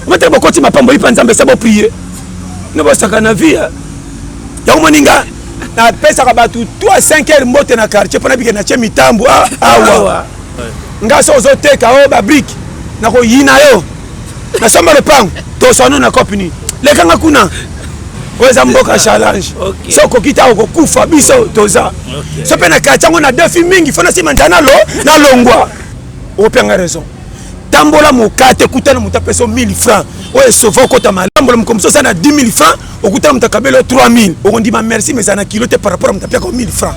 Botala bokoti mapambo ipa Nzambe sa bo prier. Ne bosaka na vie. Ya moninga napesaka bato 3 5 heures mbote na quartier mpo nabike natie mitambo ah, awa nga so ozoteka o oh, babrike nakoyina yo nasomba lopango toswano na cope nini lekanga kuna oyo eza mboka challenge so okoki ta okokufa biso toza so mpe na quartier yango na defi mingi fo nasima nzala nalongwa okopianga raison tambola mokate okutana moto apesa 1000 francs oyo esova okota malambola moto mosusu aza na 10 000 francs okutana moto akabela 3000 okondima merci mais eza na kilo te par rapport ya moto apiaka 1000 francs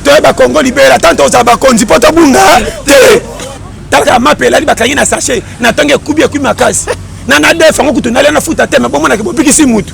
toyeba kongo libela tanto ozala bakonzi mpo tobunga te tata mape elali bakangi na sachet na ntango ekubi ekubi makasi na nadefa yango kutu nalia na futa te me bomonaki bobikisi motu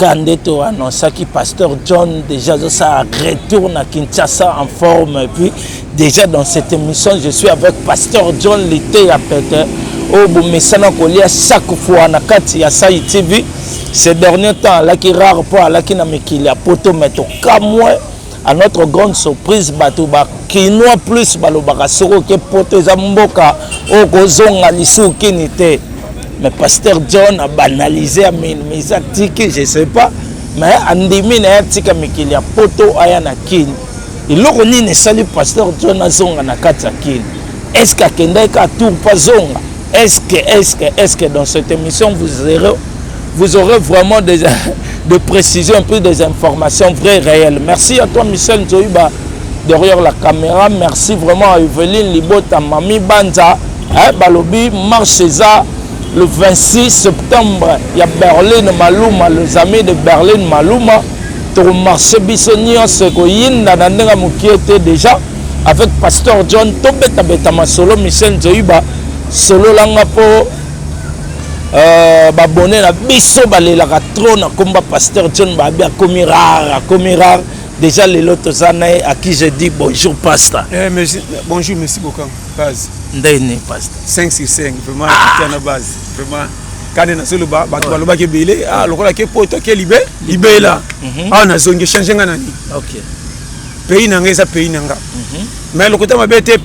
Ka nde to annonçaki pasteur John déjà azosala retour na Kinshasa en forme et puis déjà dans cette émission je suis avec pasteur John Liteya Pete oyo bomesana kolia chaque fois na kati ya Sai TV ce dernier temps alaki rare mpo alaki na mikili ya poto mais tokamwe A notre grande surprise bato ba kinois plus balobaka soko ke poto eza mboka oyo kozonga lisusu kini te mais pasteur john abanalise ya minimisa atiki je sais pas mais andimi na ye atika mikili ya poto aya na kini eloko nini esali pasteur john azonga na kati ya kini est ce que akendaki ka tour mpo azonga Est-ce que, est-ce que, est-ce que dans cette émission, vous aurez, vous aurez vraiment des, des précisions, plus des informations vraies, réelles. Merci à toi, Michel Nzoïba, derrière la caméra. Merci vraiment à Evelyne Libota, Mami Banza, hein, Balobi, Marchesa, le 26 septembre, il y a Berlin Maluma, les amis de Berlin Maluma. tokomarche biso nyonso ekoyinda na ndenge mokie te déjà avec pasteur john tobetabeta masolo michel nzoyiba sololanga mpo euh, babone na biso balelaka trop na komba pasteur john babi akomi rare akomi rare déjà lelo toza na ye à qui je dis bonjour pasta eh, merci, bonjour merci beaucoup base ndenge nini pasta 5 sur 5 vraiment ah. na base vraiment kani nazoloba bato balobaki ebele ah, lokola ke poto ke libe libela awa mhm. ah, nazongi change nga na nini pays na nga eza pays na nga mais lokuta mabe te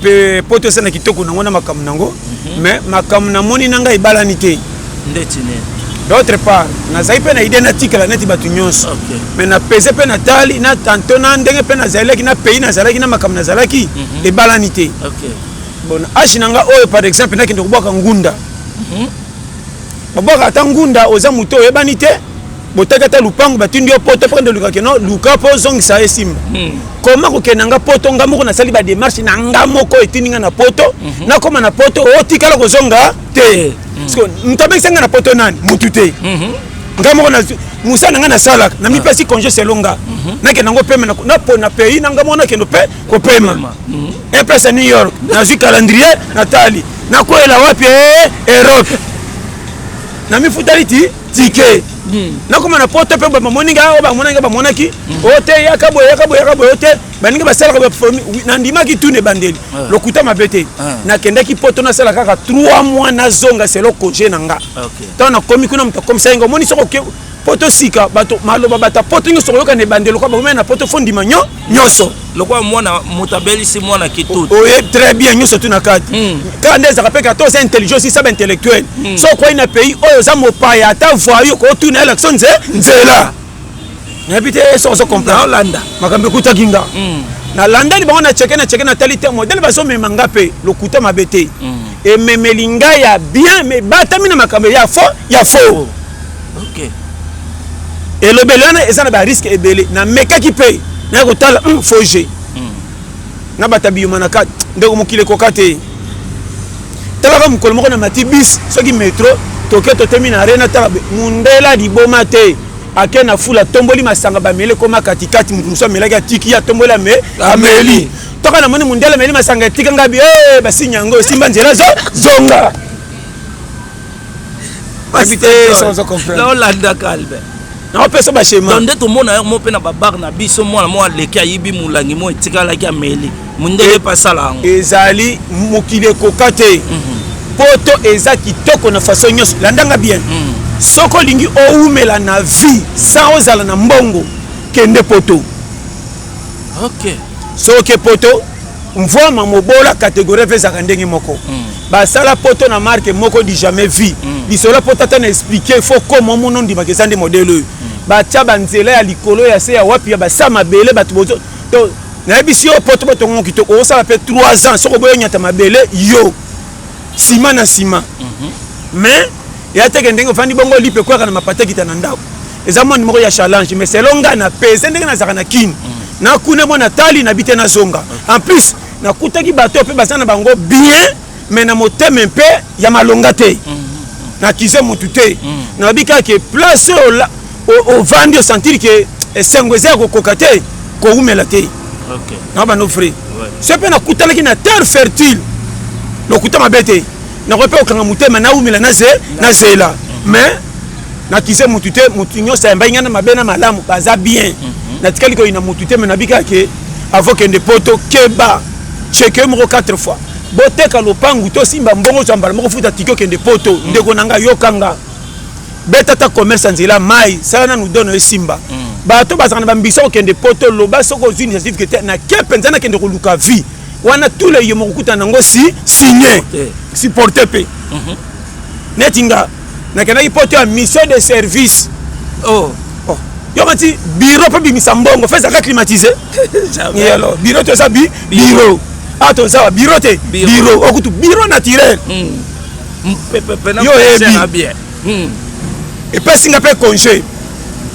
poto eza na kitoko nango na makambo nango mais makambo namoni na ngai ebalani te ndeti nini d'autre part nazali mpe na idée natikala neti bato nyonso mais napese mpe natali na tanto na ndenge mpe nazalaki na pays nazalaki na makambo nazalaki mhm. ebalani te bon age na nga oyo par exemple nakende kobwaka ngunda mhm. babwaka ata ngunda oza moto oyebani te botaki ata lupangu batindi yo poto mpo ndoluka keno luka mpo ozongisa ye simba hmm. koma kokende na nga poto nga moko nasali bademarche na nga moko etindi nga na poto mhm. nakóma na poto otikala kozonga te hmm. moto abengisa nga na poto nani motu te mhm. nga moko mosala na ngai nasalaka na mipesi ah. congé selo nga mhm. nakenda yango pema na pays na nga moko nakendo mpe kopema epresa new york nazwi calendrier natali nakwela wapi eh, europe namifutali ti tike nakoma na poto mpe bamoni nga oyo bamona nga bamonaki o oh, te yaka boye yaka boye yaka boye o oh, te baninga basalaka baformi nandimaki tuna ebandeli ah. lokuta mabe te ah. nakendaki poto nasala kaka 3 mois nazonga selo congé na nga ntango nakomi kuna moto akomisaki nga omoni soko poto sika bato maloba bato ya poto nyonso okoyoka na ebandeli lokola bakomai na poto fondima nyo nyonso lokola mwana moto abelisi mwana kitutu oye très bien nyonso tu na kati hmm. kaka nde ezaka mpe kata oza intelligence isaba intellectuel hmm. so okwei na pays oyo oza mopaya ata voye okotuna elakso nze nzela nayebi te so ozo comprendre olanda makambo ekutaki nga hmm. nalandani bango na cheke na cheke natali te modele bazomema nga mpe lokuta mabe te ememeli ngai ya bien mebatami na makambo ya fo ya fo okay. elobeli wana eza na bariske ebele namekaki mpe naya kotala mm, fo jeu mm. na bata biyuma na kati ndeko mokili ekoka te talaka mokolo moko na mati bis soki metro toke totemi na arena tala mundela liboma te ake na fula atomboli masanga bameli ekoma katikati moto mosusu amelaki atiki ye atomboli ame ameli toka namoni mundela ameli masanga etika ngabi eh, basinya yango esimba nzela zonga olandaka albe naopesa bashema nde tomona yango mpe na babare na biso mwana moko aleki ayibi molangi moko etikalaki ameli mondenge mpe asala yango ezali mokili ekoka te mhm. poto eza kitoko na faso nyonso landanga bien mhm. soki olingi owumela na vie sans ozala na mbongo kende poto okay. soki poto mvwama mobola kategorie mpe ezalaka ndenge moko mm. basala poto na marque moko du jamais vie mm. lisolo ya poto ata na explike fo koma omona ondimaka eza nde modele oyo mm. batya banzela ya likolo ya se ya wapi ya basa mabele bato bozo to nayebisi yo poto batongongo kitoko okosala mpe 3 ans soko boyo nyata mabele yo nsima na nsima mhm. mais eya teke ndenge ofandi bongo lipe ekwaka na mapata ekita na ndako eza moni moko ya challenge mais selon ngai na pese ndenge nazalaka na kini mm. nakune mwana tali na bite nazonga en plus nakutaki bato oyo mpe baza na bango bien me na motema mpe ya malonga te mm. nakize motu te mm. nayebi kaka ke place oyo ovandi osentire ke esengo eza ya kokoka te kowumela te na bando frai so mpe nakutanaki na terre fertile lokuta mabe te nakoki mpe kokanga motema nawumela nazela mais nakize motu te motu nyonso ayambai ngai na mabe na malamu baza bien mhm. natikali koyina motu te me nabikaka ke avant kende poto keba cheke moko 4 fois boteka lopangu tosimba mbongo zwa mbala moko futa tiki okende poto mm. ndeko na ngai yoka nga beta ata commerce ya nzela mai sala nanu dono esimba mm. bato bazala na bambisa okende poto loba soki ozwi initiative ke te nake mpenza nakende koluka vie wana tule yo mokokutana nango si signe supporte mpe mhm. neti nga nakendaki poto ya mission de service oh. oh. yoka ti biro mpe bimisa mbongo fe ezalaka climatise yalo biro te eza bi biro a toza wa biro te biro okutu biro naturel hmm. yo oyebi hmm. epesi nga mpe congé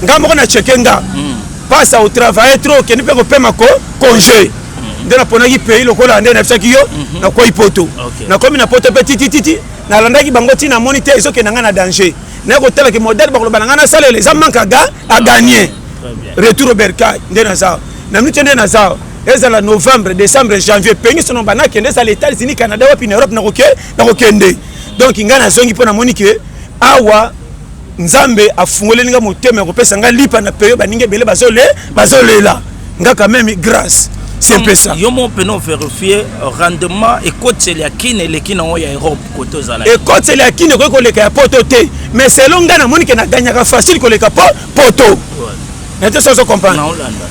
nga moko na cheke nga hmm. pasa otravaille trop okende mpe kopema ko congé nde naponaki pays lokola nde nayebisaki yo mhm. nakwei poto nakomi na poto mpe titititi nalandaki bango ntina amoni te ezokenda ngai na danger naye kotala ke modèle bakoloba na ngai nasalela eza manque aga agagne retour obercay nde naza na minute nde naza ezala novembre décembre janvier penge sono banakende ezala états-unis canada wapi na europe nakokende donc ngai nazongi mpo namoni ke awa Nzambe afungoleli nga motema ya kopesa nga lipa na peyo baninga ebele bazole bazolela nga quand même grâce c'est un peu ça yo mon peno vérifier euh, rendement ekoteli ya kin eleki nango ya europe kote ozala ekoteli ya kin ekoki koleka ya poto te mais selon ngai namoni ke naganyaka facile koleka po poto nete soso comprendre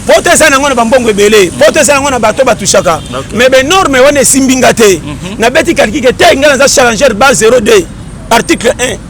poto eza nango na bambongo ebele mm. poto eza nango na bato batushaka mais benorme wana esimbi nga te mhm. nabeti kalkike te ngai naza challenger ba 02 article 1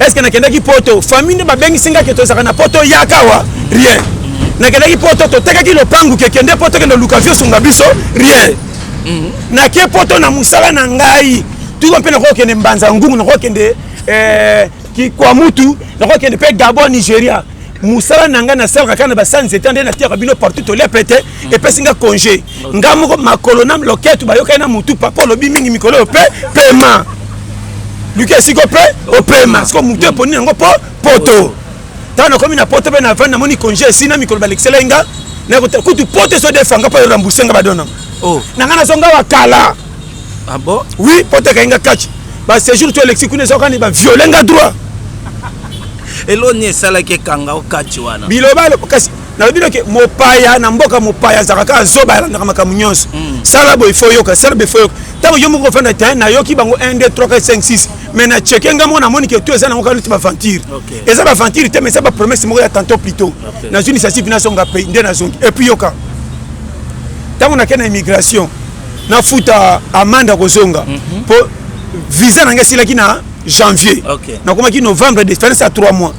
eske nakendaki poto famille nde babengisi nga ke tozalaka na poto yakawa rien nakendaki poto totekaki lopangu ke kende poto kende luka vie osunga biso rien mhm. nake poto na mosala na ngai tuko mpe nakokende mbanza ngungu nakokende eh, kikwamutu nakokende mpe gabon nigeria mosala na ngai nasalaka kaka na basanzeta nde natiyaka bino partout tolia pete mhm. epesi nga congé nga moko makolo na loketu bayokani na mutu papa olobi mingi mikolo oyo pe pema luki esiko pe opema siko mutu eponi yango po poto ntango nakomi na poto mpe na vani namoni konje esi na mikolo balekiselai nga kutu poto eso defanga mpo erembourse nga badona oh. na nga nazonga wa kala ah oui poto ekai nga kaci basejour to elexi kuna ezokani baviole nga droit eloni esalaki ekanga okaci wana biloba kasi nalobi noke mopaya na mboka mopaya azalaka kaka zoba alandaka makambo nyonso mm. sala boye fo yoka sala boye fo yoka ntango yo moko ofanda te nayoki bango 1 2 3 4 5 6 mais na cheke nga moko namoni ke to eza nango kaluti baventure eza baventure te mais eza bapromesse moko ya tanto plutôt nazwi initiative nasonga pay nde nazongi epuis yoka ntango nake na immigration nafuta amande ya kozonga mpo mhm. visa na ngai esilaki na janvier nakomaki novembre de fense ya 3 mois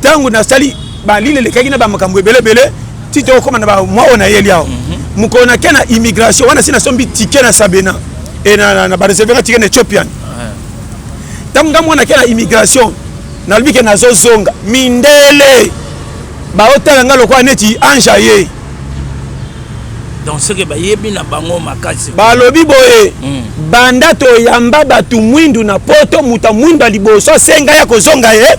ntango nasali balile elekaki na bamakambo ebele ebele ti tokokoma na bamwa oyo nayeli awa mhm. mokolo nake na immigration wana si nasombi tike na sabena e na bareservera tike na ethiopian ntango nga mwana ke na immigration nalobi ke nazozonga mindele baotala nga lokola neti ange aye donc soki bayebi na bango makasi balobi boye mm. banda toyamba bato mwindu na poto moto ya mwindu ya liboso asenga ya kozonga ye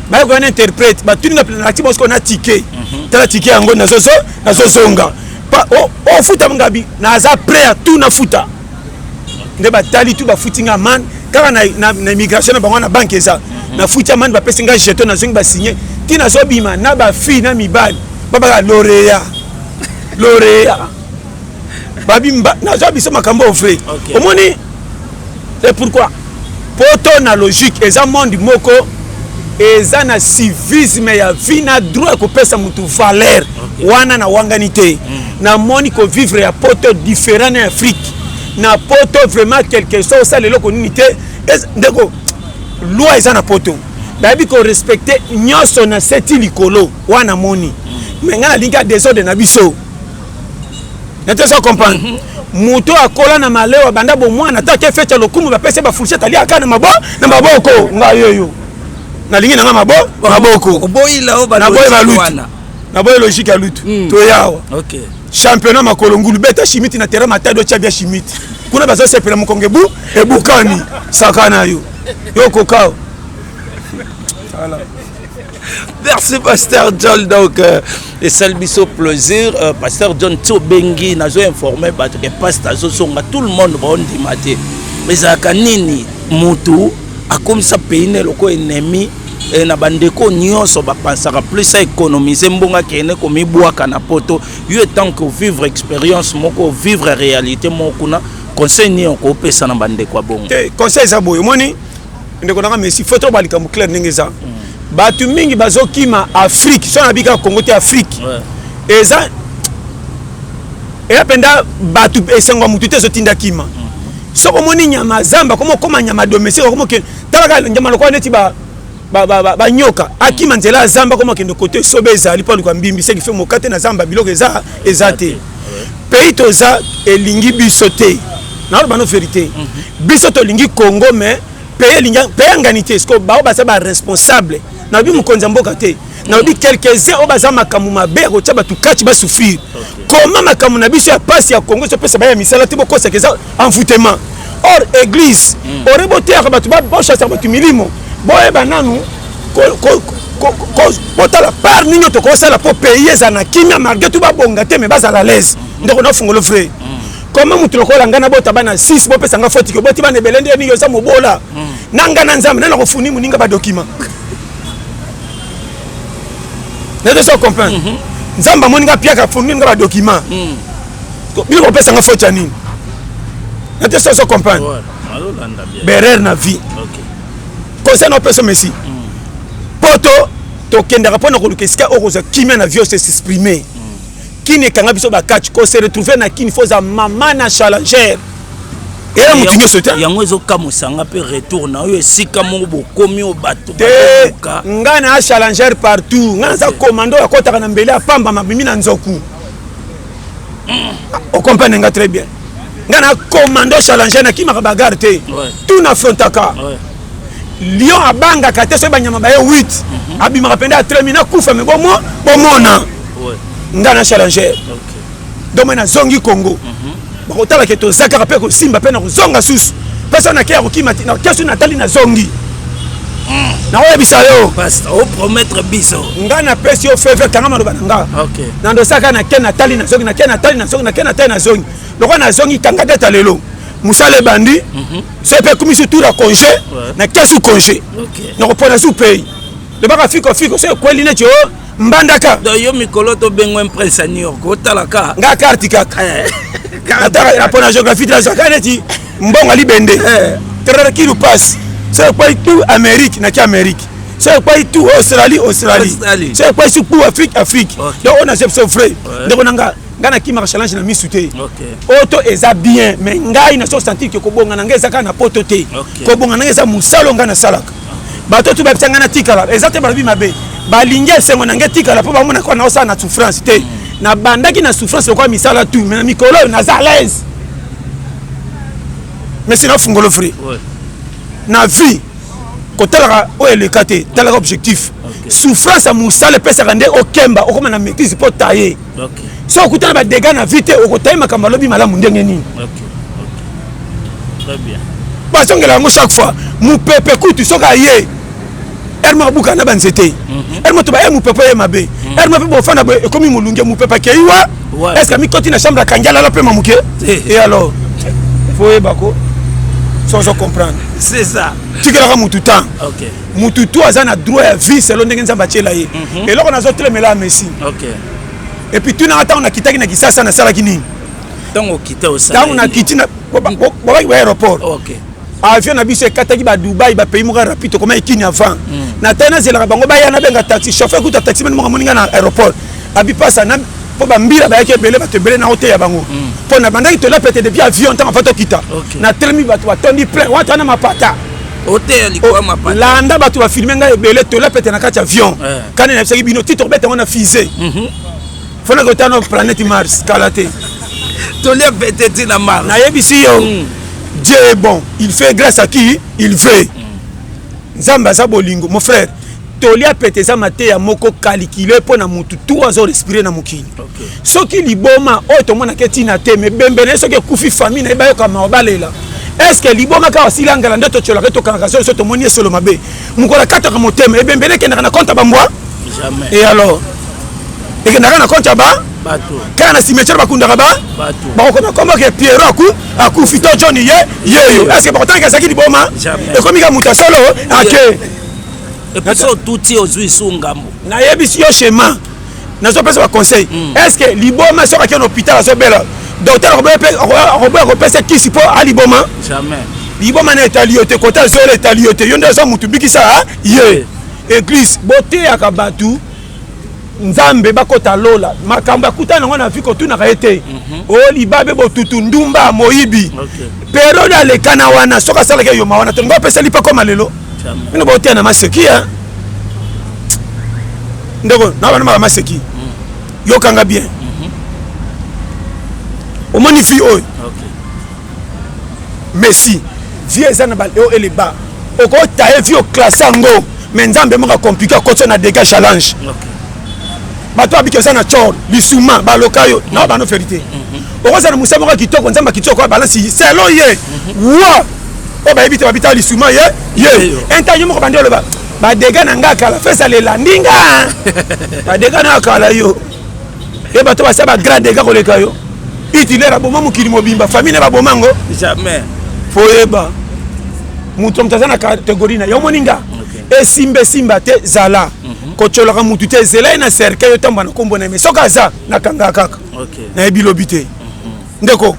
baye koya na interprète batuni nga nati bosiko na tike mhm. tala tike yango nazozonga ofuta oh, oh, ngabi naza prêt ya tout nafuta nde batali tout bafuti nga man kaka na immigration na bango na banke eza mhm. nafuti amani bapesi nga jeton nazongi basigne ti nazobima na bafille na mibali babaka lorea lorea babimba naza biso makambo vrai okay. omoni et pourquoi poto na logique eza monde moko eza na civisme ya vie na droit ya kopesa motu valeur okay. wana na wangani te mm. namoni kovivre ya poto différent na afrique na poto vraiment quelque soit osala eloko nini te ndeko loi eza na poto nayebi korespecte nyonso na seti likolo wana moni mm. me ngai nalingi ya desordre na biso nete eza comprendre mhm. moto akola na malewa banda bomwana ata ke feti ya lokumu bapesi bafourchette aliaka na mabo na maboko ngai yoyo nalingi na ngai mabo maboko oboyi balutu naboyi logike ya lutu hmm. toyawa championnat makolo ngulu beta shimiti na terrain matado tya bia shimiti kuna bazosepela mokongo ebu ebukani saka na yo yo kokao merci pasteur john donc euh, esali biso plaisir euh, pasteur john ti obengi nazo informe bato ke paste azozonga tout le monde baondima te ezalaka nini motu akomisa pays ne lokola ennemi e, na bandeko nyonso bapansaka plus aéconomise mbongo akende komibwaka na poto yo etant que ovivre expérience moko ovivre réalité moko kuna conseil nini okopesa na bandeko ya bongo conseil eza boye omoni ndeko nanga messi faut toba likambo claire ndenge eza mm. bato mingi bazokima afrique so nabi kaka congo te afrique eza eya mpenza bato esengo ya motu te ezotinda kima mm. soki omoni nyama zamba koma okoma nyama domestique okomoke talaka nyama lokola neti ba banyoka akima nzela ya zamba koma kende kote sobe ezali mpo aluka mbimbi seki fe mokate na zamba biloko eza eza te pays toza elingi biso te naloba no verité mhm. biso tolingi congo mais pays elingi pays angani te siko bao baza baresponsable nalobi mokonzi ya mboka te nalobi quelques-uns oyo baza makambo mabe ya kotya bato kati basouffrir koma makambo na biso ya mpasi ya kongo ezopesa baya misala te bokosaka eza envoûtement or église hmm. ore boteyaka bato bochasaka bato milimo boyeba nanu botala par nini oyo tokosala mpo pays ezala na kimia malgré tout babonga te mais bazala laise hmm. ndeko nafungolo vrai hmm. koma motu lokola ngai nabota bana 6 bopesa ngai fotiki oboti bana ebele nde nini oza mobola na ngai na nzambe nde nakofuni moninga badokima nayebi so comprendre mhm. nzambe amoni nga piaka fongeli nga badocument mhm. bino kopesa nga faute ya nini nate so so comprendre berere na vie conseil na opesa messi mhm. poto tokendaka mpo na koluka esika oyo kozwa kimia na vie ose s'exprimer kini ekanga biso bakati kose retrouve na kini fo oza mama na challenger Eh, yango ezokamwisa nga mpe retour na oyo esika moko bokomi oyo bato te ngai na challenger partout ngai naza komando oyo akɔtaka na mbele apamba mabimi na nzoku hmm. okomprendre nga très bien ngai na komando challenger nakimaka bagare te tout nafrontaka lion abangaka te soki banyama baye 8 mhm. abimaka mpenza atremi nakufa me bomona ngai na challenger donc mai nazongi congo mhm. bakotala ke toza kaka mpe kosimba mpe na kozonga susu mpe so nakeya kokima te nakeya soki natali nazongi mm. nakoyebisa yo opromettre biso ngai napesi yo feve kanga maloba na nga nandosaka nake natali nazongi nake natali nazongi nake natali nazongi lokola nazongi kanga data lelo mosala ebandi mhm. so mpe ekumisi tour ya congé nakeya su congé nakopona su pays lobaka fiko fiko so ekweli neti o oh, mbandaka donc yo mikolo tobengo imprince ya new york otalaka nga carte kaka eh. ataka mpo na géographie te nazwaka neti mbongo alibende eh. trarakili passe so ekwai tu amérique naki amérique so ekwai tu australie australie so ekwai su pu afrique afrique donc oyo naza biso vrai ndeko na nga ngai nakimaka challenge na misu te oto eza bien mais ngai naso sentir ke kobonga na ngai eza kaka na poto te kobonga na ngai eza mosala ngai nasalaka bato tu babisa ngai natikala eza te balobi mabe balingi esengo na ngai etikala mpo bamona kaka naosala na souffrance te nabandaki na souffrance lokola misala tu me na mikolo oyo naza alaise mesi nafungolo fri na vie kotalaka oyo eleka te talaka objectif souffrance ya mosala epesaka nde okemba okoma na maîtrise mpo taye so okutana ba dégâts na vie te okotaye makambo alobi malamu ndenge nini bazongela yango chaque fois mopepe kutu soki aye ere moko abuka na banzete ere mhm. moto baye mopepe ye mabe mhm. ere mope bofanda boye ekomi molunge mopepe akei wa estce amikoti na chambre akangi alala mpe mamoke eh. e alors fo oyebako sozo comprendre c'est ça tikelaka motu temps mutu tu aza na droit ya vie selon ndenge nzambe atiela ye mhm. eloko nazotelemela ya messi epuis tunanga ntango nakitaki na kisasa nasalaki nini ntango nakiti bobaki ba aéroport avion na biso ekataki badubai bapays moko ya rapide tokomaki kini avant mm. na tai nazelaka bango baya nabenga taxi chauffeur kuta taxi mani moko amoninga na aéroport abipasa mpo bambila bayaki ebele bato ebele na oteya bango mpo mm. na bandaki tolapete depuis avion ntango afa tokita na telemi bato batondi plein wata wana mapata oteya likolo oh, mapata landa bato bafilme ngai ebele tola pete na kati avion eh. kani nayebisaki bino ti tokobeta yango na fise mhm. fona kota na planète mars kala te tolia pete ti na mars nayebisi yo mm. dieu est bon il fait grâce à qui il veut mm. nzambe aza bolingo mon frère toli ya pete eza mateya moko kalikile mpo na motu tu azo respire na mokili okay. soki liboma oyo tomonaka etina te mebembe na ye soki ekufi famille na ye bayoka mawa balela estce liboma kaka asili angala nde totyolaka ye tokangaka zolo so tomoni esolo mabe mokolo akataka motema ebembe nde ekendaka na konte ya bambwa e alors ekendaka na konte ya ba kaka na cimetière bakundaka ba bakokoma komboke piero aku akufi to johni ye yeyo estce bakotangaka ezalaki liboma ekomi kaka moto ya solo ake episo otuti ozwi su ngambo nayebisi yo chemin nazopesa baconseil mm. est ce que liboma soki akei na hôpital azobela docteur akoboya kopesa kisi mpo aliboma liboma na etali yo te kota zola etali yo te yo nde aza motu bikisa ye eglise boteyaka bato nzambe bakota lola makambo akutana yango na vi kotunaka ye te mhm. o oh, libabe botutu ndumba moyibi periode alekana wana soki asalaki eyoma wana tolingi opesa lipa koma lelo bino boteya na maseki ya ndeko na bana maka maseki mhm. yokanga bien mhm. omoni fi oyo Messi vie eza na ba haut et le bas okota ye vie oklasse yango mais nzambe moko akomplike akotisa na dega challenge bato babiki oza na cor lisuma baloka yo na bano verité mhm. okozala na mosala moko ya kitoko nzambe akitoko ya balansi selo ye mhm. wa oyo bayebi te babitaka lisuma ye ye intan yo moko bandi oloba badega na nga kala fesa lela ndinga badega na yo kala yo e bato basala ba grand dega koleka yo hitler aboma mokili mobimba famille na baboma yango jamais foyeba moto moto aza na kategori na yo omoni nga esimba esimba te zala mhm. kotyolaka motu te zela ye na cercueil otambola na nkombo na ye me soki aza nakangaka kaka nayebi lobi te mhm. ndeko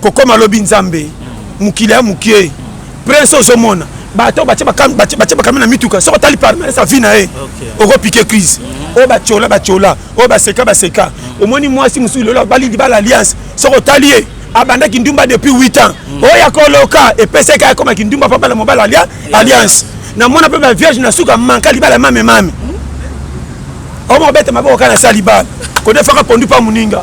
kokoma lobi nzambe mokili ya mokie prince ozomona bato batye bakame na mituka soki otali parmele sa vi na ye okopike crise mhm. oyo batyola batyola oyo baseka baseka mhm. omoni mwasi mosusu lelo abali libala alliance soki otali ye abandaki ndumba depuis 8 ans mhm. oyo ya koloka epesaki akoma kindumba mpo abala mobala alliance namona mpe bavierge na suka manka libala mame mame omobete maboko kaka na sali bala kodefaka pondu mpa moninga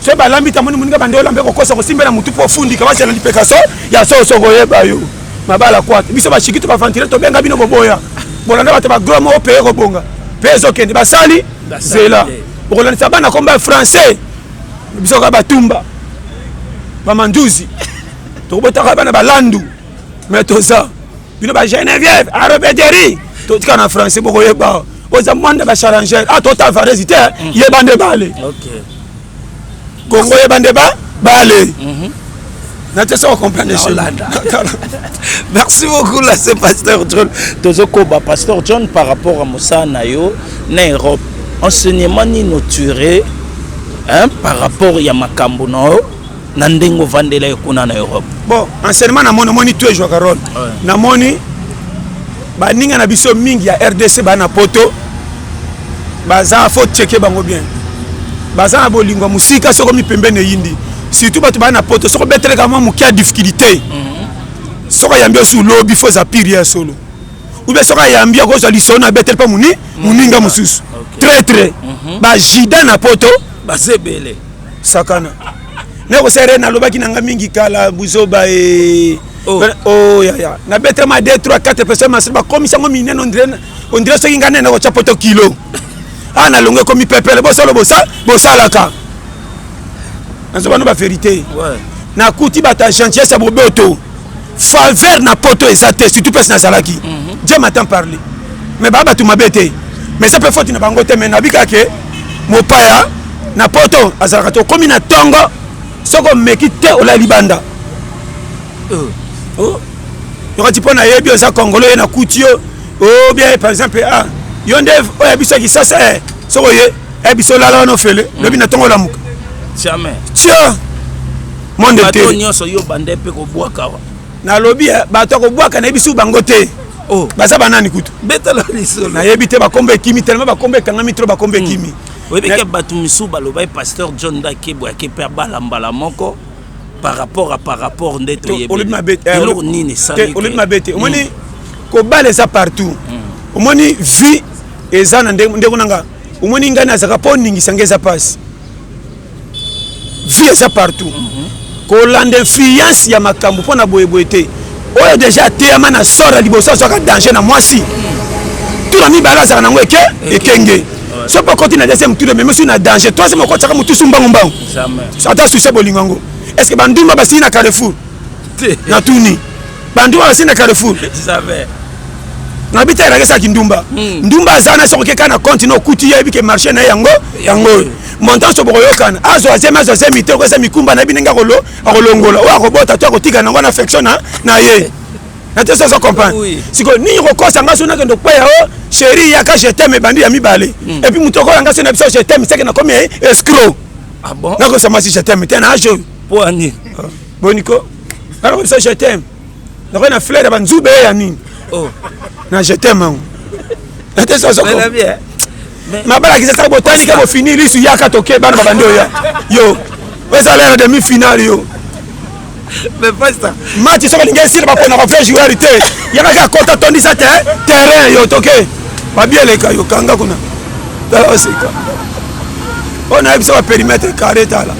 soki balambi tamoni moninga bande olambe kokosa kosimbela motu mpo ofundika bazala lipeka so ya soso koyeba yo mabala kwata biso bashiki to bavantile tobenga bino boboya bolanda bato bagrome o peye kobonga mpe ezokende basali zela okolandisa bana komba ya français biso kaka batumba bamanduzi tokobotaka bana balandu me toza bino ba geneviève arobederi totika na français bokoyeba oza mwanda ba charangere a ah, tota varesi te mm. yeba nde bale kongo yeba nde ba bale mhm. natesa kocomprendre merci beaucoup la se pasteur john tozokoba pasteur john par rapport à mosala na yo na europe enseignement nini otire par rapport ya makambo na yo na ndenge ovandela ye kuna na europe bon enseignement namoni omoni tu ejwaka role namoni baninga na biso mingi ya rdc baa na poto baza fo cheke bango bien baza na bolingo ya mosika soko mipembeni eyindi surtout bato baa na poto soko beteleka mwa moke ya difficulté mhm. soko ayambi osu lobi fo eza pire ya solo oubien soko ayambi akozwa lisolo na betele mpo mhm. moninga mosusu très très mhm. bajida na poto baza ebele sakana nakosala re nalobaki na nga mingi kala buzoba e oh. oh, ya, ya. nabetama 2 3 4 personne masili bakomisa yango minene ondire soki ngai nene nakotya poto kilo a ah, nalongo ekomi pepele bosolo bosalaka nazoba no baverité nakuti bato ya gentillesse ya boboto faveur na poto eza te surtout place nazalaki mm -hmm. dieu matin parle mais baa bato mabe te mais eza mpe foti na bango te mais nabika ke mopaya na poto azalaka te okomi na ntongo soki omeki te olali libanda oh. oh. yokati mpo nayebi oza kongolo ye na kuti yo obia oh, par exemple ah, yo nde oyo ya biso ya kisasa eh, soki oye eh, biso olala wana ofele mm. lobi na ntongo olamuka tio monde te bato nyonso yo bande mpe kobwaka wa nalobi eh, bato ya kobwaka nayebi soki bango te oh. baza banani kutu betala lisolo nayebi te bakombo ekimi telema bakombo ekangami tro bakombo hmm. ekimi mm. oyebi ke bato misusu balobai pasteur john dakebo yake mpe abala mbala moko par rapport a par rapport nde toyebieloko eh, nini esalolobi mabe te omoni hmm. kobala eza partout hmm. omoni vie eza na ndeko nanga omoni ngai nazaka mpo oningisa ngai eza mpasi vie eza partout mm -hmm. kolanda influence ya makambo mpo na boyeboye te oyo deja ateyama na sor ya liboso azwaka danger na mwasi tuna mibale azalaka nango eke ekenge soki mpo okoti na deuxième tour ememi soki na danger troisième okotisaka motusu mbangumbangu ata susi ya bolingo yango est ce que bandumba basili na carrefour na tuni bandumba basili na carrefour na bita elakisaki ndumba hmm. ndumba aza na soki okeka na compte na okuti ye ayebi ke marché na ye yango yango oyo montanso bokoyokana azwa zemi azwa zemi te okoyesa mikumba na ye binenge akolongola oyo akobota to akotika nango na affection na ye na te soso comprendre sikoyo nini kokosa nga so nakende kokwaya o sheri yaka jeteme ebandi ya mibale hmm. epuis moto okola nga so na biso jeteme seke nakomi escro ah nakosa masi jeteme te na age oyo poani ah. boniko nga nakomi biso jeteme nakoki na flair ya banzube ya nini oh. na jeteme yango na te soso mabala kisa saka botali ke bofini lisu yaka toke bana babandi oya yo ezala na demi finale yo match soki olingi esila baponaka vrai joueur te yaka kaka kota tondisa te terrain yo toke babieleka yo kanga kuna tala oseka oyo nayebisa baperimetre carre tala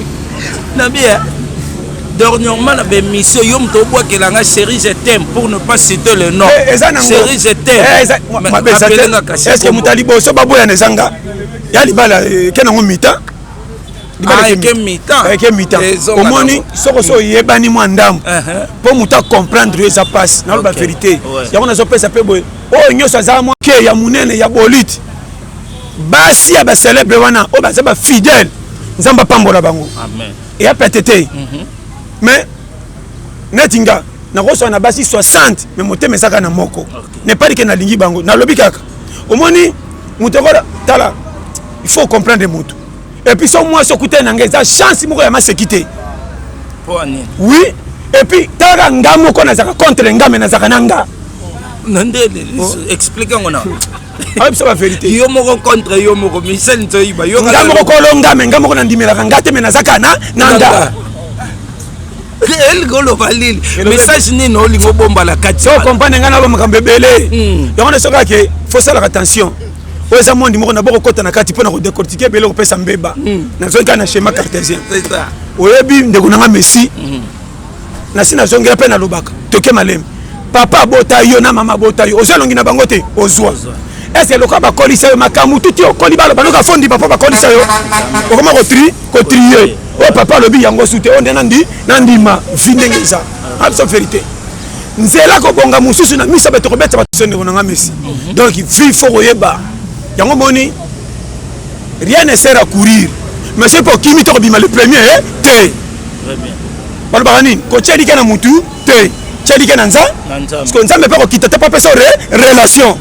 na bie Dernièrement na ba émission yo moto obwakela nga chérie je t'aime pour ne pas citer le nom. Eh, eza na ngo. Chérie je t'aime. Eh, eza- Ma- Mais mabe eza te. appelez nga kasi Est-ce que kombo. moto ya liboso baboyana eza nga ya libala eh, eke nango mita Libala Ah, eke eke mita. mita. Eh, eke mita Ezonga omoni nango. soko so oyebani mwa ndambo Uh-huh. mpo moto acomprendre yo eza mpasi naloba Ok. verité Ouais. yango nazopesa mpe boye oyo nyonso aza mwa ke ya monene ya bolite basi ya bacelebre wana oyo baza bafidèle nzambe apambola bango Amen. eya pete te mhm. mais neti nga nakoswa na basi 60 mais motema ezaka na moko nepali ke nalingi bango nalobi kaka omoni moto ekola tala il faut comprendre moto epuis so mwasi okutani na ngai eza chance moko ya maseki te oui epuis talaka nga moko nazalaka contre nga me nazalaka na nga na nde explike yango na ayebisa ba verité yo moko contre yo moko michel nzoyiba yo nga moko kolo nga me nga moko nandimelaka nga te me naza kana na nga elingi oloba lili message nini olingi obomba na kati so comprendre ngai naloba makambo ebele hmm. yango na sokaka ke fosalaka attention oyo eza mondi moko na bokokota na kati mpo na kodecortike ebele kopesa mbeba hmm. nazongi kaka na schéma cartésien oyebi ndeko na nga messi hmm. nasi nazongela mpe nalobaka toke malembe papa abota yo na mama abota yo ozwa elongi na bango te ozwa ese lokola bakolisa yo makambo tuti okoli baloba noka fondiba mpo bakolisa yo okoma kotri kotrie oyo oh, papa alobi yango su te oyo oh, nde nandi nandima vi ndenge eza abso ah, verité nzela kobonga mosusu na miso bato kobeta bato so ndeko na nga mesi mhm. donc vi fo koyeba yango moni rien ne sert à courir mais soki mpo okimi to kobima le premier eh, te balobaka nini kotya elika na mutu te tya elika na nza parceke nzambe mpe akokita te mpo apesa relation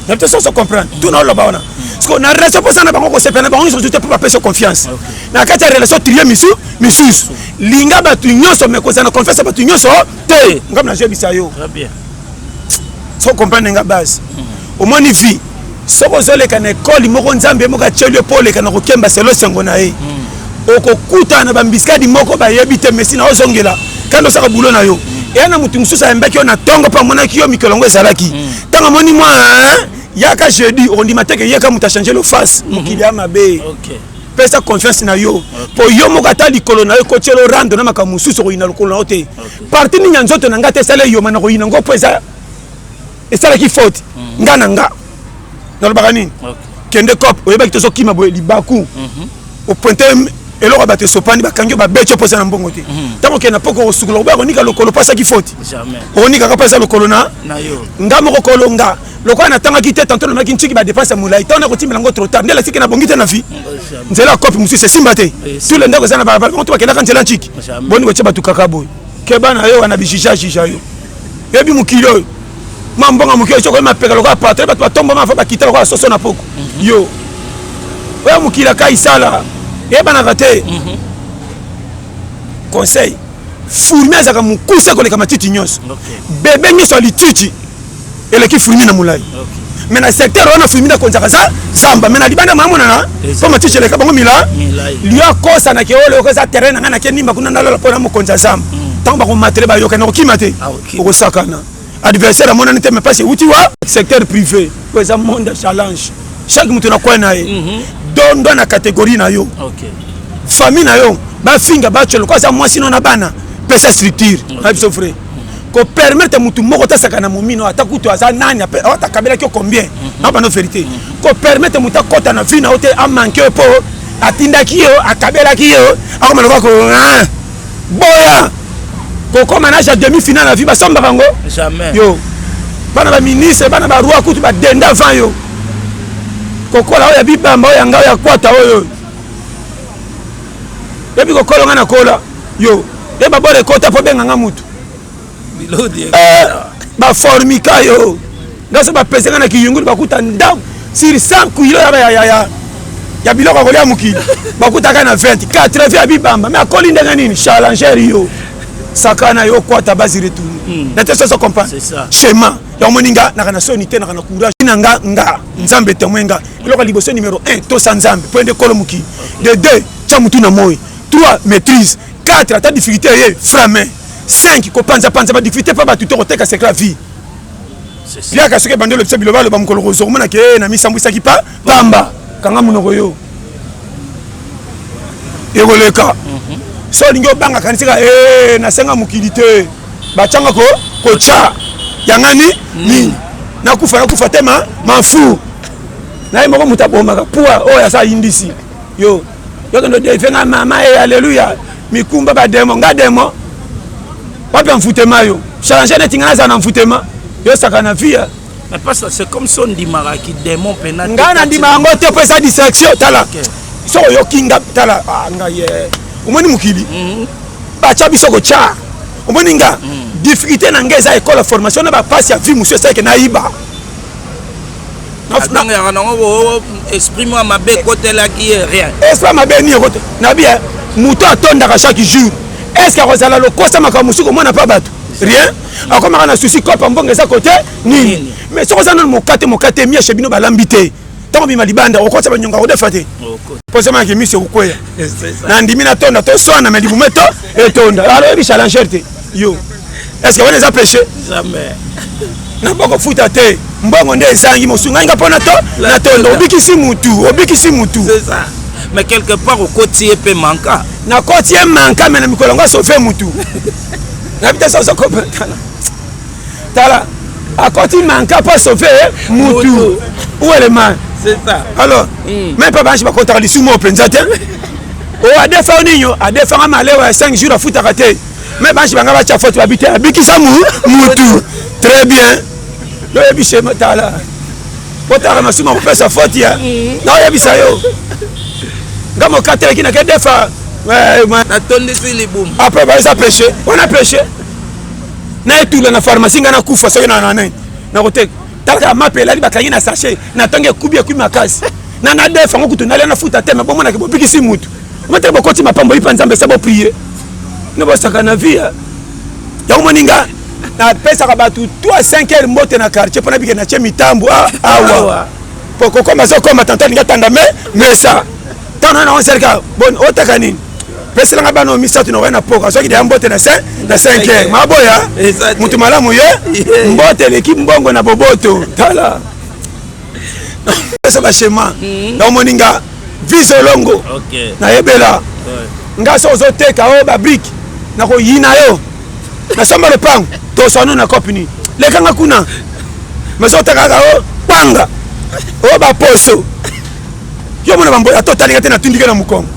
na biso soso comprendre tuna oloba wana parceke na relation mposa na bango kosepela na bango nyonso te mpo bapesa yo confiance na kati ya relation trie misu misusu linga bato nyonso me kozala na confiance ya bato nyonso te ngai nazwebisa yo faut comprendre nga base omoni vie soki ozoleka na ekole moko nzambe moko atyeli yo mpo oleka na kokemba selo esengo na ye mm. okokutana na bambiskadi moko bayebi te mesi na ozongela kandi osaka bulo na yo mm. eya na moto mosusu ayembaki yo na ntongo mpo amonaki yo mikolo yango ezalaki mm. ntango amoni mwa yaka jeudi okondima te ke yeka moto achange lo face mm-hmm. mokili ya mabe pesa confiance na yo mpo yo moko ata likolo na yo ekotyelo rando na makambo mosusu okoyina lokolo na yo te parti nini ya nzoto na ngai te esala eyoma na koyina ngo mpo eza esalaki faute mm. nga na nga nalobaka nini kende cop oyebaki tozokima boye libaku mhm. opointe eloko ya bato esopani bakangi yo babeti yo mposa na mbongo te mhm. ntango okende na poko okosukola okoya konika lokolo mpo asaki faute okonikaka mpo eza lokolo na nga moko kolo nga lokola natangaki te tanto lomaki ntiki badepense ya molai ntango nakotimela yango trotard nde latiki na bongi te na vie nzela ya kopi mosusu esimba te tu le ndako eza na balabala moto bakendaka nzela ntiki boni kotya bato kaka boye keba na yo wana bijija jija yo yebi mokili oyo ma mbongo moke soki oyema peka lokola patron bato batombama afa bakita lokola soso na poko mhm. yo oyo mokili akai sala eyebanaka te mhm. conseil fourmi azalaka mokuse koleka matiti nyonso bebe nyonso ya lititi eleki fruimi na molai me na secteur wana fruimi na konzaka za zamba me na libanda mamonana mpo matiti eleka bango mila liyo akosana ke oyo okoza terrain na ngai nake nimba kuna nalola mpo na mokonzi ya zamba ntango mm. bakomatele bayoka na kokima te ah, okosakana adversaire amonani te me mpasi euti wa secteur privé oyo eza monde ya challenge chaque moto na kwai na ye mhm. dondo na catégorie na yo famille na yo bafinga bacolo ko aza mwasi no na bana pesa structure na biso vrai ko permettre mutu moko ta sakana momino ata kutu aza nani ata kabela kyo combien mhm. na bana verité mhm. ko permettre mutu akota na vie na ote a manquer po atindaki yo akabelaki yo akoma lokola ko ah, boya kokoma na ja demi finale na vie basombaka yango yo bana baministre bana baroi kutu badenda avant yo kokola oyo ya bibamba oyo yanga oyo ya kwata oyo ebi kokolo nga nakola yo e babora ekota mpo benga nga mutu eh, baformika yo nga so bapese nga na kiyungulu bakuta ndambo sur 100 kilo ya biloko ya kolia mokili bakutaka na 20 80 ya bibamba me akoli ndenge nini chalanger yo sakana yo kwata basi retourne hmm. na te soso comprendre schéma ya omoni nga naka na soni te naka na courage na nga nga nzambe temoin nga eloko ya liboso numero 1 tosa nzambe mpo ende kolo moki de 2 tya motu na moi 3 maîtrise 4 ata difficulté eye frame 5 kopanzapanza badifficulté mpo bato te koteka secret ya vie liaka soki ebandi olobisa biloba aloba mokolo kozwa komona ke eh, namisambwisaki pa pamba kanga monoko yo ekoleka mhm. so olingi obanga kanisaka eh, nasenga mokili te batyanga kotya yangani nini nakufa nakufa te ma mafu naye moko moto abomaka pua oyo oh, asa indisi yo yokende odefe nga mama e aleluya mikumba bademo nga demo wapi amfutema yo change neti nga nazala na mfutema yo saka na vie mais pasta c'est comme si ondimaka kidemon mpena ngai nandimaka yango te mpo eza distraction tala soki oyoki nga tala ah, ngai ye eh. omoni mokili mhm. batya biso kotya omoni nga mhm. difficulté na ngai eza ekole formation na bapasi ya vie mosusu esaleke nayiba abangaka nango oh, oh, esprit mwa mabe ekotelaki ye rien esprit mabe nini ekote nabi eh, moto atondaka chaque jour est ce que akozala lokosa makambo mosusu komona mpa bato rien akomaka na susi kopa mbongo eza kote nini mais soki oza nano mokate mokate mieshe bino balambi te ntango bima libanda okosa banyonga kodefa te posemaki miso ekokweya nandimi natonda toswana me libumu eto etonda aloyebi challengeur te yo est ce que wana eza péché jamais nako kofuta te mbongo nde ezangi mosungani nga mpo na to na tondo obikisi mutu obikisi mutu mais quelque part okoti ye mpe manka nakoti ye manka me na mikolo yango asove mutu na bita sa oza kopetana tala akoti manka mpo asauve mutu uelema alors hmm. mai mpe banshi bakotaka lisumu moko mpenza te oyo oh, adefa ninyo adefanga malewa ya 5 jours afutaka te mai banshi banga batya foto babi te abikisa mutu très bien noyebise tala otaka masumu akopesa foti ya hmm. naoyebisa yo nga mokatelaki nake defa eh, natondisi libumu apres baeza peche wana peche na etula na pharmacie ngai nakufa soki na na nini nakoteka talaka mape elali bakangi na sachet na ntango ekubi ekui makasi na na def yango kutu nalia nafuta te me bomonaki bobikisi mutu ometele bokoti mapambo ipa nzambe se boprie no bosaka na vie yango moni nga napesaka bato 3 5 heure mbote na quartier mpo nabike na tie mitambo ah, awa mpo kokoma zokoma tantani nga tanda me mesa ntango na nango esalika boni otaka nini peselanga bana oyo misato na oya na poka soki deya mbote na 5 na 5 heure maboya moto malamu ye mbote eleki mbongo na boboto tala esa bashema hmm. na omoni nga vise olongo nayebela nga so ozoteka oyo babrike nakoyina yo nasomba lopango toswano na cope nini lekanga kuna mazotakaka o panga o baposo yo mona bambola to otalinga te natundike na mokongo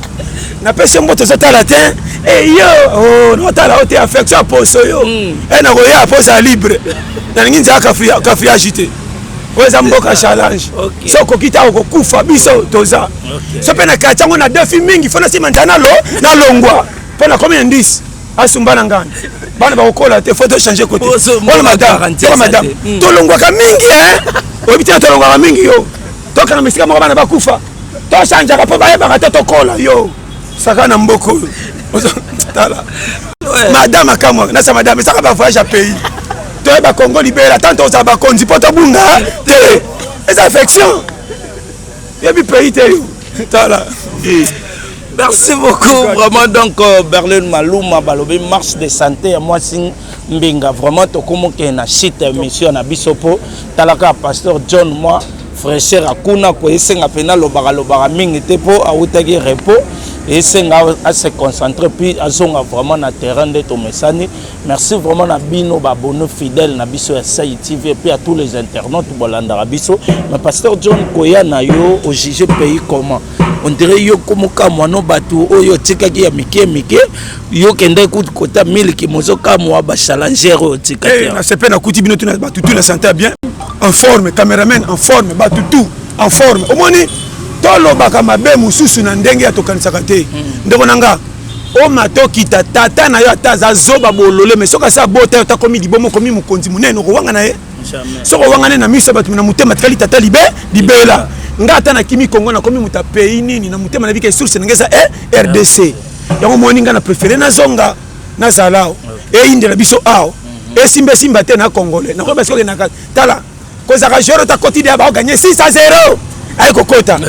napesi mbote ezotala te eyo oh, notala o te affection aposo yo e eh, nakoya mpo ozala libre nalingi nzala kafiage te oyo eza mboka challenge so okoki ta okokufa biso toza so mpe na kati yango na defi mingi fo nasima nzala nalo nalongwa mpo nakomi na ndisi asumba na ngana bana bakokola te fo tochange kote oyo madame tolongwaka mingi eh? oyebi te tolongwaka mingi yo tokanga misika moko bana bakufa tochangeaka mpo bayebaka te tokola yo saka na mboka oyo tala madame akamwa nasa madame esaka bavoyage ya pays toyeba congo libela tanto ozala bakonzi mpo tobunga te eza affection yebi pays te yo tala merci beaucoup vraiment donc euh, berlin maluma balobi marche de santé ya mwasi Mbinga vraiment tokomoke na site ya émission na biso mpo talaka pasteur John mwa fraîcheur akuna ko esenga mpena lobaka lobaka mingi te mpo awutaki repos esenga ase concentrer puis azonga vraiment na terrain nde tomesani merci vraiment na bino babonne fidèle na biso ya sai tv epuis ya tous les internautes bolandaka biso mais pasteur john koya na yo ojuge pays comment on dirait yo komokamwa no bato oyo otikaki ya mike mike yo kende kutu kota miliki mozokamwa bachallenger oyo otikaki eh, na sepe nakuti bino tuna bato tu na santa bien en forme cameraman en forme bato tu en forme omoni tolobaka mabe mosusu na ndenge ya tokanisaka te mm. ndeko na nga omata okita tata na yo ata aza zoba bolole me soki asi abota yo takomi libomo okomi mokonzi monene okowanga na ye soki owangani na miso ya bato na motema tikali tata libe libela nga ata nakimi kongo nakomi moto ya pays nini na motema na bika source na nga eza e eh, rdc yango moni nga na préféré nazonga nazala awa eyindela biso awa mhm. esimba esimba te na congolais nakoyeba soki okendaka tala kozaka joro ta quotidien baoganye 6 a 0 aye kokota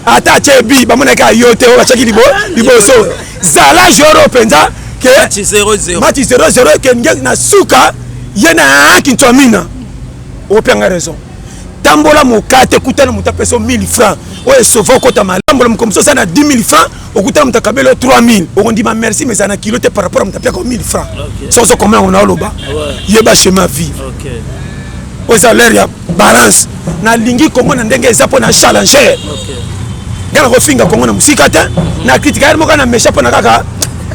ata atye bi bamonaki ayo te oyo batyaki liboso zala joueur oyo mpenza ke Match 0-0. match 0-0 eke nge na suka ye na kintuamina okope yanga raison tambola mokate kutana moto apesa yo 1000 francs oyo esova okota malambola mokolo mosusu oza na 10 000 francs okutana moto akabeli yo 3000 okondima merci mais eza na kilo te par rapport ya moto apiaka yo 1000 francs Ok. soki ozokomona yango naoloba Ouais. yeba chemin ya vivre Ok. oyo eza lere ya balance na lingi kongo na ndenge eza pona challenger nga nakofinga kongo na mosika te na kritika yari moko na mesha mpona kaka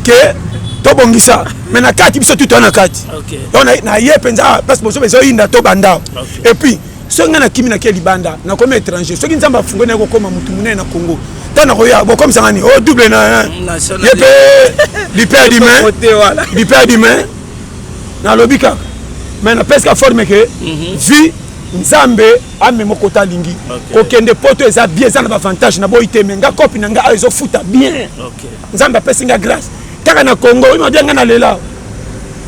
ke tobongisa me na kati biso tuta na kati naye mpenza place boso mpenza oyinda to bandao epuis soki ngai nakimi nake libanda nakomi étranger soki nzambe afungoli naye kokoma motu monene na congo ntango nakoya bokomisa ngani o oh, double na ye mpe lipe ya dime lipe ya dime nalobi kaka mais napesika forme ke mhm. vie nzambe amema okota alingi kokende poto eza bien eza na bavantage naboyi te me nga kopi na nga ayo ezofuta bien nzambe apesi nga grâce kaka na congo oyo mabia nga na lela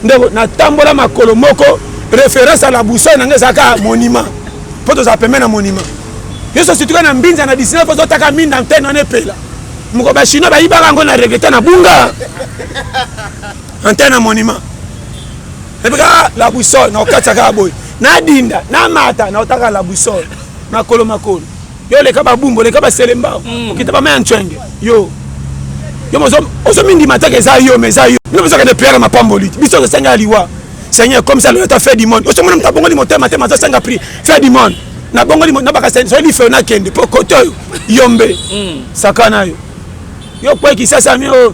ndeko natambola makolo moko référence à la boussole na nga ezalaka monument mpo tozala pembe na monument yesu situka na mbinza na 19 ozotaka minda antene wana epela moko bachinois bayibaka yango na regrete na bunga antenne ya monument epi kaka la boussole nakokatisa kaka boye nadinda namata naotaka la boussole makolo makolo yo oleka babumbu oleka baselembao hmm. okita bama ya ncwenge yo yo ozo mindima teke eza yo ma eza yo bino bozokende priere mapamboli te biso tosenga ya liwa seigneur comme ça loyota fait du monde osomona moto abongoli motema te mazosenga prix fait du monde nabongoli nabaka soki lifeo nakende mpo kote oyo yombe hmm. sakana yo yo kweki sasami oyo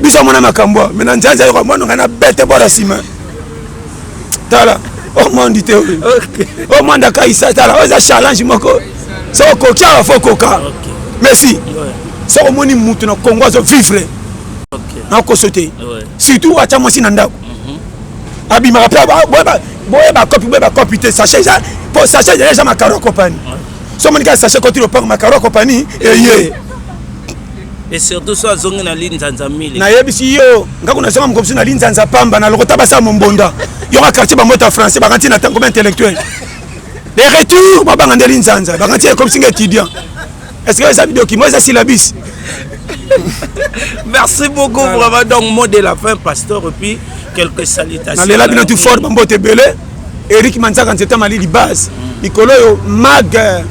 biso amona makambo me na nzanza yoko amona ngai na bete bora nsima tala omondi te omondi akaisa tala oyo eza challenge moko so okoki awa fo okoka merci soki omoni motu na congo azo vivre nakoso te surtout atya mwasi na ndako mhm. abimaka mpe boye bakopi boye bakopi te sache eza mpo sache ezali eza makaro ya kopani so omoni kaka sache koti lopango makaro ya kopani eye et surtout so azongi na linzanza mile nayebisi yo nga kuna zonga mokomisi na linzanza pamba na lokota basa mombonda yoka quartier bamota français bakanti na tango baintellectuel de retour babanga nde linzanza bakanti ekomisi nga étudiant est ce que eza bidokimo eza syllabis merci beaucoup vraiment donc mot de la fin pasteur epuis quelques salutations nalela bino tu fort bambote ebele Eric Manzaka Nzeta Malili base mikolo oyo mag euh,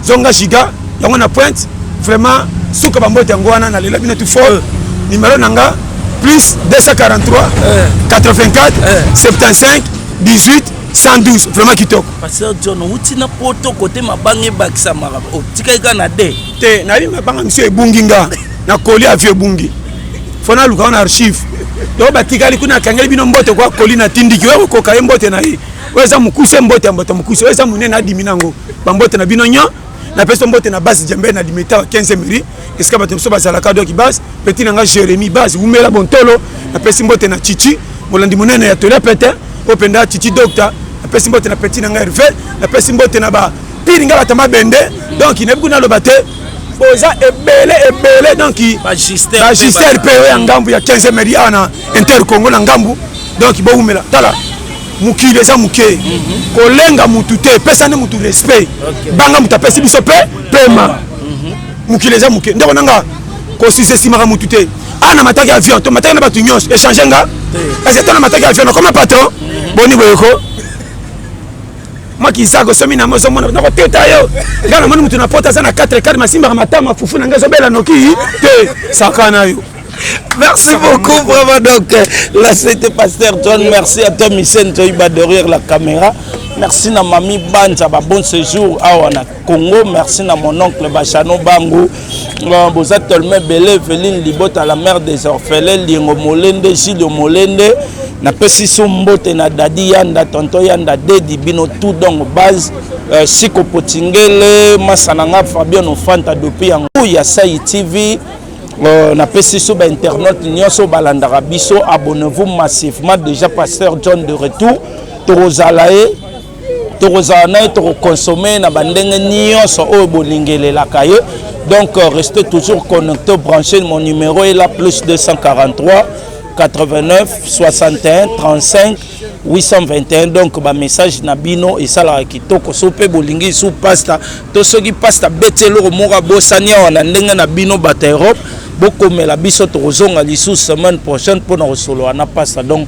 zonga giga yango na pointe vraiment suka bambote yango wana nalela bino tu fort euh. numero na nga plus 243 84 75 18 112 vraiment kitoko pasteur john outi na poto kote mabanga ebakisamaka otikaki kaka na de te nayebi mabanga miso ebungi nga na koli avio ebungi fo naluka wana archive to batikali kuna akangeli bino mbote kwa koli na tindiki oyo kokoka ye mbote na ye oyo eza mokuse mbote ya mbote mokuse oyo eza monene adimi nango bambote na bino nyo napesi mbote na base jembe na limeta wa 15 miri esika bato mosusu bazalaka doki base peti na nga jérémi base wumela bontolo napesi mbote na chichi molandi monene ya tolia pete oyo mpenza chichi docta napesi mbote na peti na nga herve napesi mbote na ba pili nga bata mabende donc nayebi kuna aloba te boza ebele ebele donc bagister mpe oyo ya ngambu ya 15 meri awa na inter congo na ngambu donc bowumela tala mokili eza moke mhm. kolenga mutu te epesani mutu respect banga mutu apesi biso mpe pema mhm. mokili eza moke ndeko nanga kosisa esimaka mutu te awa ah, na mataki avion to mataki na bato nyonso echange nga kasi ata na mataki avion nakoma patron mhm. boni boyeko mwa kizaga osomi nango ozomona nakoteta yo ngai namoni motu na pota aza na 4 kare masimbaka matama fufu na ngai ezobela noki te sakana yo Merci beaucoup, vraiment. Donc, là, c'était Pasteur John. Merci à toi, Michel Toiba, derrière la caméra. Merci, na mamie Banza, bon séjour. Ah, on a Congo merci na mon oncle Bachano Bangu euh, boza tellement ebele Eveline Libota la mère des orphelins Liengo Molende Gilio Molende napesi so mbote na Dadi Yanda Tonto Yanda Dedi bino tout donc base euh, Siko Potingele Masananga Fabien Ofanta depuis yango ya Sai TV Euh, napesi so bainternaute nyonso balandaka biso abonnez-vous massivement déjà pasteur john de retour tokozala ye tokozala na ye tokokonsome na bandenge nyonso oyo bolingelelaka ye donc euh, restez toujours connecté branché mon numéro est là plus 243 89 61 35 821 donc bamessage na bino esalaka kitoko so mpe bolingi lisu pasta to soki pasta abeti eloko moko abosani awa na ndenge na bino bato ya europe bokomela biso tokozonga lisusu semaine prochaine mpo na kosolola na pasta donc